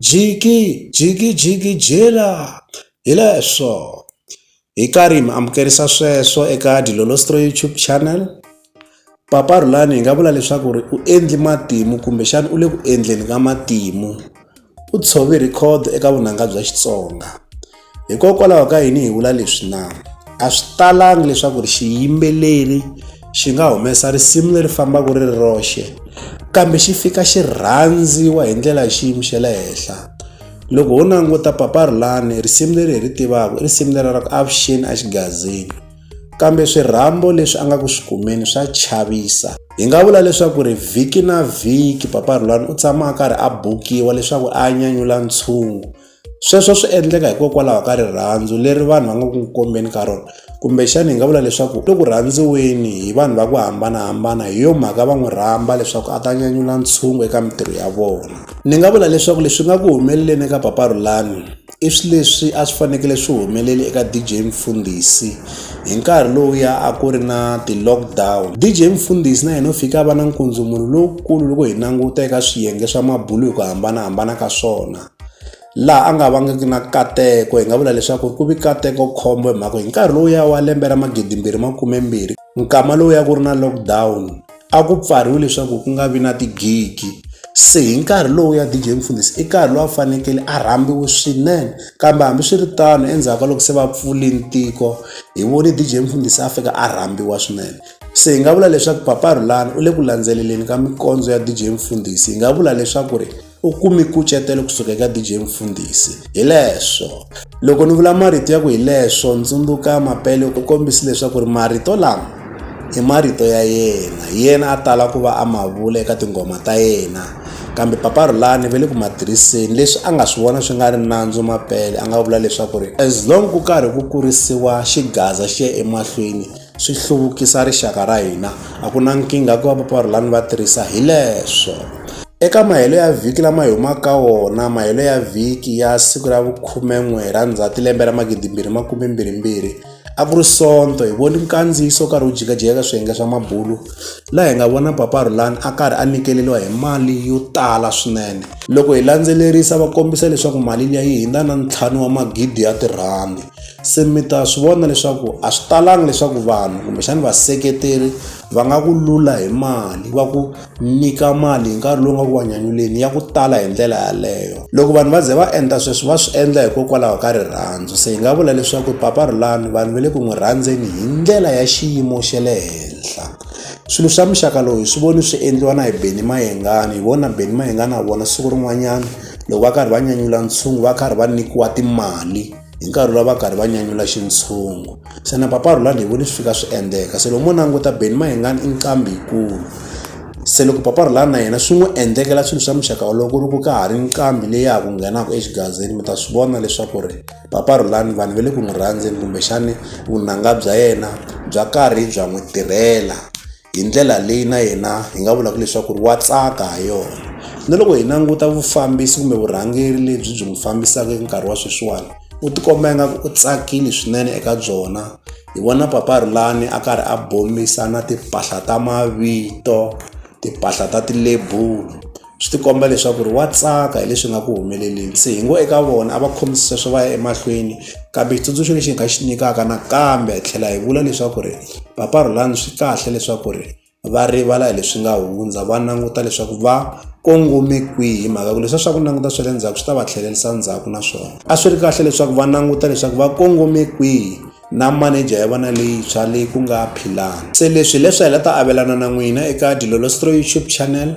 Jiki, jiki, jiki, jela! Hi leswo. Hi karhi hi mi amukerisa sweswo eka Dilolostree YouTube channel. Papa Rhulani hi nga vula leswaku ri u endli matimu kumbexana u le ku endleni ka matimu. U tshove record eka vunanga bya Xitsonga. Hikokwalaho ka yini hi vula leswi na? A swi talangi leswaku ri xiyimbeleri xi nga humesa risimu leri fambaka ri ri roxe kambe xi fika xi rhandziwa hi ndlela ya xiyimo xa le henhla loko ho languta papa rhulani risimu leri hi ri tivaka i risimu leri ra ku avuxeni a xigazini kambe swirhambo leswi a nga ku swi kumeni swa chavisa hi nga vula leswaku ri vhiki na vhiki papa rhulani u tshama a karhi a bukiwa leswaku a nyanyula ntshungu Sweswo swi endleka hikokwalaho ka rirhandzu leri vanhu va nga ku kombeni ka rona kumbexana hi nga vula leswaku i ku rhandziweni hi vanhu va ku hambanahambana hi yo mhaka va n'wi rhamba leswaku a ta nyanyula ntshungu eka mintirho ya vona ni nga vula leswaku leswi nga ku humeleleni eka papa Rhulani i swi leswi a swi fanekele swi humeleli eka DJ Mfundhisi hi nkarhi lowuya a ku ri na ti-lockdown DJ Mfundhisi na yena u fike a va na nkundzumulo lowukulu loko hi languta eka swiyenge swa mabulu hi ku hambanahambana ka swona laha a nga vangiki na nkateko hi nga vula leswaku ku vi nkateko khombo hi mhaka ku hi nkarhi lowuya wa lembe ra magidimbirhi makumembirhi nkama lowuya ku ri na lockdown a ku pfariwe leswaku ku nga vi na tigigi se hi nkarhi lowuya D_J Mfundhisi i nkarhi lowu a fanekele a rhambiwe swinene kambe hambiswiritano endzhaku ka loko se va pfule tiko hi vone D_J Mfundhisi a fika a rhambiwa swinene se hi nga vula leswaku papa Rhulani u le ku landzeleleni ka minkondzo ya D_J Mfundhisi hi nga vula leswaku ri u kume nkucetelo kusuka eka DJ Mfundhisi. Hileswo, loko ni vula marito ya ku hileswo ndzundzuka Mapele u kombisi leswaku ri marito lama i marito ya yena yena a tala ku va a ma vula eka tinghoma ta yena kambe papa rhulani ve le ku ma tirhiseni leswi a nga swi vona swi nga ri nandzu Mapele a nga vula leswaku ri as long ku karhi ku kurisiwa xigaza xi ya emahlweni swi hluvukisa rixaka ra hina a ku na nkingha ku va vaparhulani va tirhisa hi leswo eka mahelo ya vhiki lama hi humaka ka wona mahelo ya vhiki ya siku ra vukhumen'we ra ndzhati lembe ra magidimbirhi makumembirhimbirhi a ku ri sonto hi voni nkandziyiso karhi wu jikajika ka swiyenge swa mabulu laha hi nga vona paparhulani a karhi a nikeleriwa hi mali yo tala swinene loko hi landzelerisa va kombisa leswaku mali liya yi hindza na ntlhanu wa magidi ya tirhandi se mi ta swi vona leswaku a swi talangi leswaku vanhu kumbexani vaseketeri va nga ku lula hi mali va ku nyika mali hi nkarhi lowu nga ku wa nyanyuleni ya ku tala hi ndlela yaleyo loko vanhu va ze va endla sweswi va swi endla hikokwalaho ka rirhandzu se hi nga vula leswaku papa rhulani vanhu va le ku n'wi rhandzeni hi ndlela ya xiyimo xa le henhla swilo swa muxaka lowu hi swi voni swi endliwa na hi beni mayengani hi vona beni mayengani a vona siku rin'wanyana loko va karhi va nyanyula ntshungu va karhi va nyikiwa timali hi nkarhi lowu va karhi va nyanyula xintshungu xana papa rhulani hi voni swi fika swi endleka se loko mo languta beni mayengani i nqambi yikulu se loko papa rhulani na yena swi n'wi endlekela swilo swa muxaka wolowo ku ri ku ka ha ri nqambi leyi ya ha ku nghenaka exigazini mi ta swi vona leswaku ri papa rhulani vanhu va le ku n'wi rhandzeni kumbexani vunanga bya yena bya karhi bya n'wi tirhela hi ndlela leyi na yena hi nga vulaka leswaku ri wa tsaka ha yona na loko hi languta vufambisi kumbe vurhangeri lebyi byi n'wi fambisaka eka nkarhi wa sweswiwani u tikomba ingaku u tsakile swinene eka byona hi vona papa rhulani a karhi a bombisa na timpahla ta mavito timpahla ta tilebulo swi tikomba leswaku ri wa tsaka hi leswi nga ku humeleleni se hi ngo eka vona a va khomisi sweswo va ya emahlweni kambe xitsundzuxo lexi hi nga xi nyikaka nakambe hi tlhela hi vula leswaku ri papa rhulani swi kahle leswaku ri va rivala hi leswi nga hundza va languta leswaku va kongome kwihi hi mhaka ku leswiya swa ku languta swa le ndzhaku swi ta va tlhelerisa ndzhaku naswona a swi ri kahle leswaku va languta leswaku va kongome kwihi na maneja ya vona leyintshwa leyi ku nga philani se leswi hileswi hi la ta avelana na n'wina eka dilolostro youtube channel